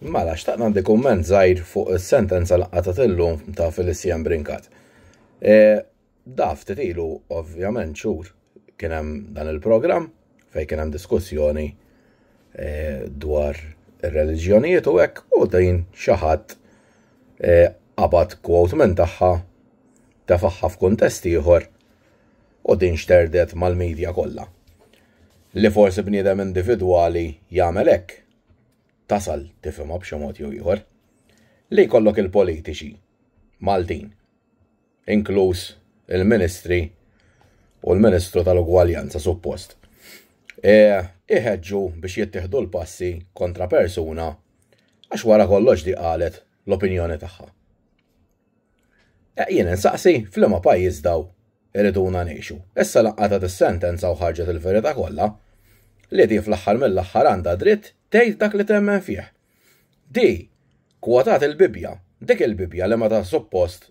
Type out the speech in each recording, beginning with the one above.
Mela, xtaqt għandi kumment żgħir fuq is-sentenza li qatat illum ta' Felicien Brinkat. E, daf titilu, ovvjament, xhur kien hemm dan il-programm fejn kien hemm diskussjoni e, dwar ir-reliġjonijiet u hekk u din xi ħadd e, qabad kwot minn tagħha tefaħħa f'kuntest ieħor u din xterdet mal-medja kollha. Li forsi bniedem individwali jagħmel hekk, tasal tifhimha b'xi mod jew ieħor, li jkollok il-politiċi Maltin, inkluż il-Ministri u l-Ministru tal-Ugwaljanza suppost, e, iħeġġu biex jittieħdu l-passi kontra persuna għax wara kollox di qalet l-opinjoni tagħha. Eh, jien insaqsi, f'liema pajjiż daw iriduna ngħixu. Issa lanqata tis-sentenza u ħarġet il-verità kollha li di fl-aħħar mill-aħħar għandha dritt tgħid dak li temmen fih. Di kwotat il-Bibja, dik il-Bibja li meta suppost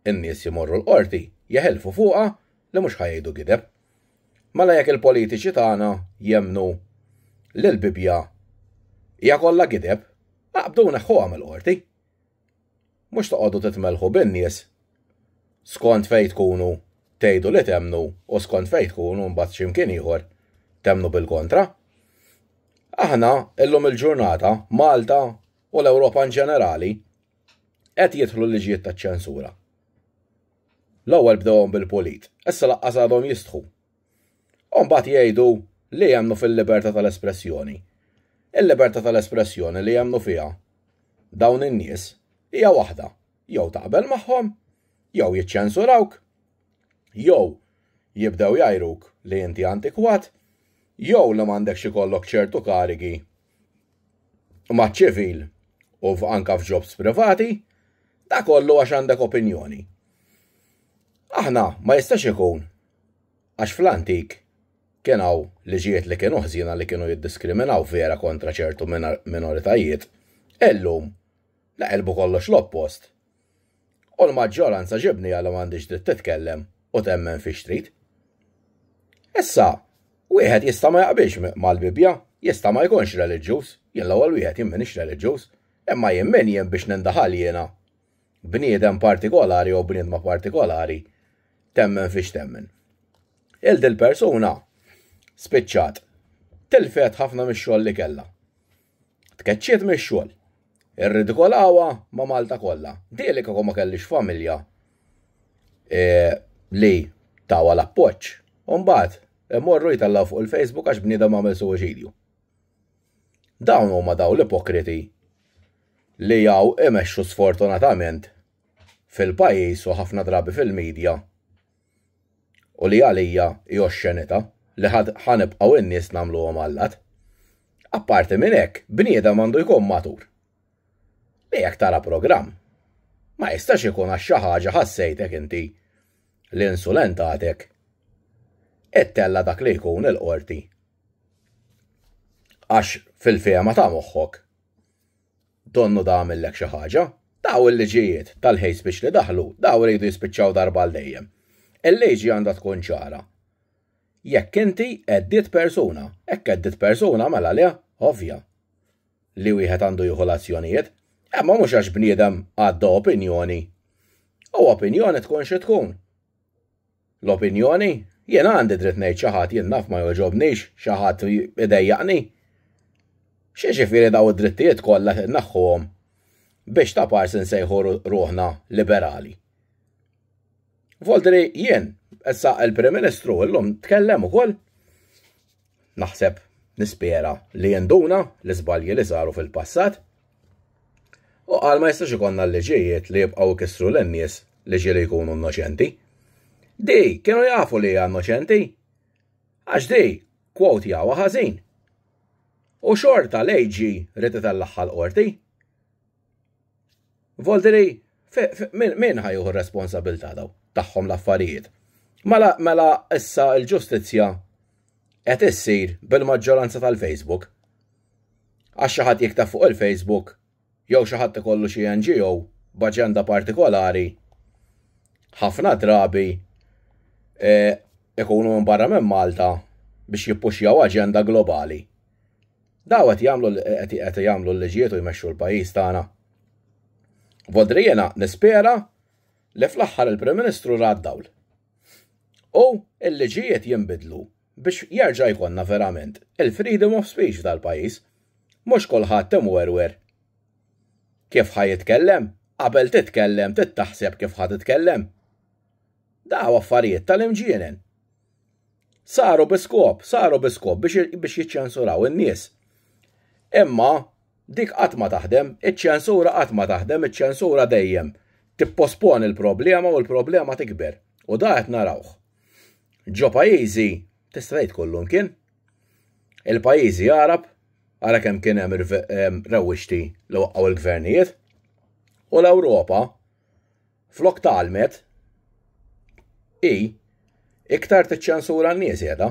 in-nies jimorru l-qorti jeħelfu fuqha li mhux ħajdu gideb. Mela jekk il-politiċi tagħna jemnu li l-Bibja hija kollha gideb, aqbdu neħħuha mill-qorti. Mhux toqgħodu titmellħu bin-nies skont fejn tkunu tgħidu li temmnu u skont fejn tkunu mbagħad xi mkien ieħor temmnu bil-kontra. Aħna illum il-ġurnata, Malta u l-Ewropa in ġenerali, qed jidħlu liġijiet taċ-ċensura. L-ewwel bdewhom bil-pulit, issa laqqas għadhom jistħu U mbagħad jgħidu li jemnu fil-libertà tal-espressjoni. Il-libertà tal-espressjoni li jemnu fiha dawn in-nies hija waħda, jew taqbel magħhom, jew jiċċensurawk, jew jibdew jgħajruk li inti antikwat, jew li m'għandekx ikollok ċertu karigi maċ-ċivil u anka f'ġobs privati, da kollu għax għandek opinjoni. Aħna ma jistax ikun Għax fl-antik kien hawn liġijiet li kienu ħżiena li kienu jiddiskriminaw vera kontra ċertu minoritajiet, illum neqilbu kollox l-oppost u l-maġġoranza ġibnija li m'għandhiex dritt titkellem u temmen fiex trid. Issa, wieħed jista' ma jaqbilx mal-Bibbja, jista' ma jkunx reliġjuż, jien l-ewwel wieħed jien m'iniex reliġjuż, imma jien min jien biex nindaħal jiena bniedem partikolari jew bniedma partikolari temmen fiex temmen. Il dil persuna spiċċat tilfet ħafna mix-xogħol li kellha. Tkeċċiet mix-xogħol. Irridikolawa ma' Malta kollha. Dieli kieku ma kellix familja e, li tawa l-appoġġ. Umbagħad imorru jtallaw fuq il-Facebook għax bniedem għamel suwiċidju. Dawn huma daw l-ipokriti li jaw imexxu sfortunatament fil-pajjiż u ħafna drabi fil-media u li għalija hi oxxenità li ħa nibqgħu n-nies nagħmluhom allat. Apparti minn hekk, bniedem għandu jkun matur. Li jekk tara programm, ma jistax ikun għax xi ħaġa ħassejtek inti li insulentatek ittella' dak li jkun il-qorti. Għax fil-fehma ta' moħħok, Donnu da għamillek xi ħaġa. Daw il-liġijiet tal-hate speech li daħlu, daw iridu jispiċċaw darba għal dejjem. Il-liġi għandha tkun ċara. Jekk inti għeddiet persuna, hekk għeddiet persuna mela le, ovvja li wieħed għandu jieħu l-azzjonijiet, imma mhux għax bniedem għadda opinjoni. U opinjoni tkun xi tkun. L-opinjoni? Jien għandi dritt ngħid xi ħadd jien naf ma jogħġobnix, xi ħadd idejjaqni. X'jiġifieri daw id-drittijiet kollha se naħħuhom biex ta' pars insejħu ruħna liberali. Voltri jien, issa il-Prim Ministru llum tkellem ukoll naħseb, nispera li jenduna l-iżbalji li saru fil-passat. U qal ma jistax ikonna l-liġijiet li jibqgħu jkissru lin-nies li ġieli jkunu innoċenti. Di kienu jafu li hija innoċenti. Għax di kwot jawa ħażin. U xorta l-AG rrid itellagħha l-qorti. Voldiri, min ħajuħu responsabilta daw tagħhom l-affarijiet? Mela, mela issa l-ġustizzja qed issir bil-maġġoranza tal-Facebook. Għax xi ħadd jikteb fuq il-Facebook jew xi ħadd ikollu xi NGO b'aġenda partikolari ħafna drabi e, ikunu minn barra minn Malta biex jippuxjaw aġenda globali. Daw qed jagħmlu qed jagħmlu l-liġijiet u jmexxu l-pajjiż tagħna. Vodri jiena nispera li fl-aħħar il-Prim Ministru ra dawl. U l-liġijiet jinbidlu biex jerġa' jkollna verament il-freedom of speech f'dal-pajjiż. Mhux kulħadd imwerwer kif ħa jitkellem, qabel titkellem tittaħseb kif ħa titkellem. Daw affarijiet tal-imġienen. Saru biskop, saru biskop biex, biex jiċċensuraw in-nies. Imma dik qatt ma taħdem, iċ-ċensura qatt ma taħdem, iċ-ċensura dejjem tippospon il-problema u l-problema tikber. U da qed narawh. Ġo pajjiżi tista' tgħid kollum kien. Il-pajjiżi Arab ara kemm kien hemm rewwixti li waqgħu l-gvernijiet u l-Ewropa Flok tgħallmet, hi iktar tiċċensura n-nies qiegħda.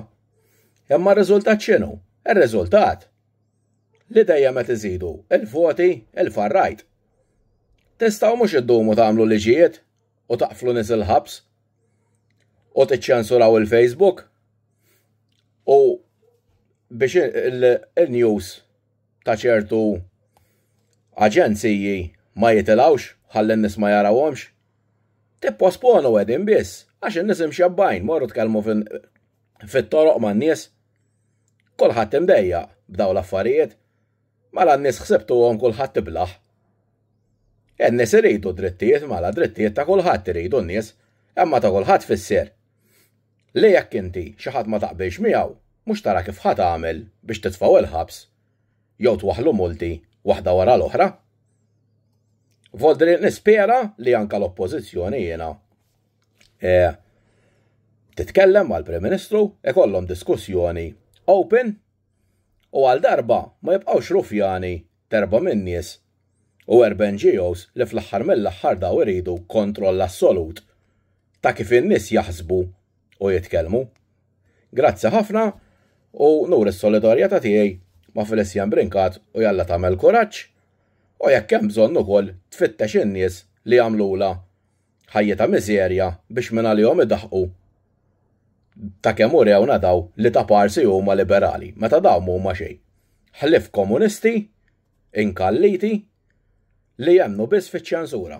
Imma r-riżultat x'inhu? Ir-riżultat li dejjem qed iżidu il-voti il-farrajt. Tistgħu mhux iddumu tagħmlu liġijiet u taqflu nies il-ħabs u tiċċensuraw il-Facebook u biex il-news ta' ċertu aġenziji ma jitilgħux ħalli n-nies ma jarawhomx. Tipposponu qegħdin biss għax in-nies imxebbajn morru tkellmu fit-toroq man-nies. Kulħadd imdejjaq b'daw l-affarijiet. Mela n-nies ħsibtuhom kulħadd iblaħ. In-nies iridu drittijiet mela drittijiet ta' kulħadd iridu n-nies, imma ta' kulħadd fisser. li jekk inti xi ħadd ma taqbilx miegħu mhux tara kif ħa tagħmel biex titfgħu il-ħabs jew twaħħlu multi waħda wara l-oħra. Voldri nispera li anke l-Oppożizzjoni jiena e, titkellem mal-Prim Ministru ikollhom diskussjoni open u għal darba ma jibqgħux rufjani Terba' min-nies u erba' NGOs li fl-aħħar mill-aħħar daw iridu kontroll assolut ta' kif in-nies jaħsbu u jitkellmu. Grazzi ħafna u nuri s-solidarjetà tiegħi ma' Felicien Brincat u jalla tagħmel kuraġġ u jekk hemm bżonn ukoll tfittex in-nies li għamlulha Ħajja ta' miżerja biex minn għalihom idaħħqu ta' kemm urewna daw li ta' parsi huma liberali, meta daw m'huma xejn ħlief komunisti inkalliti li jemmnu biss fiċ-ċensura.